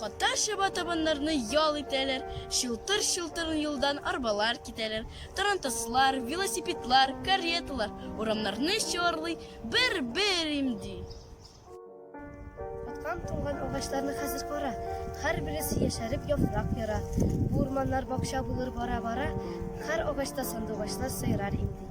Котлар чаба табаннарны ял итәләр, чылтыр-чылтыр юлдан арбалар китәләр, тарантаслар, велосипедлар, кареталар урамнарны чуарлый, бер-бер имди. Аткан туңган агачларны хәзер кара, һәрбересе яшәреп яфрак яра. Бу урманнар бакча булыр бара-бара, һәр агачта сандугачлар сайрар имди.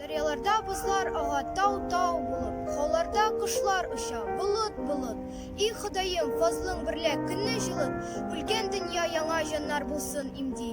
Дәрьяларда бозлар ага тау-тау булып, Хауларда кошлар оча болыт-болыт. И Ходаем, фазлың берлә көнне җылыт, Үлгән дөнья яңа җаннар булсын имди.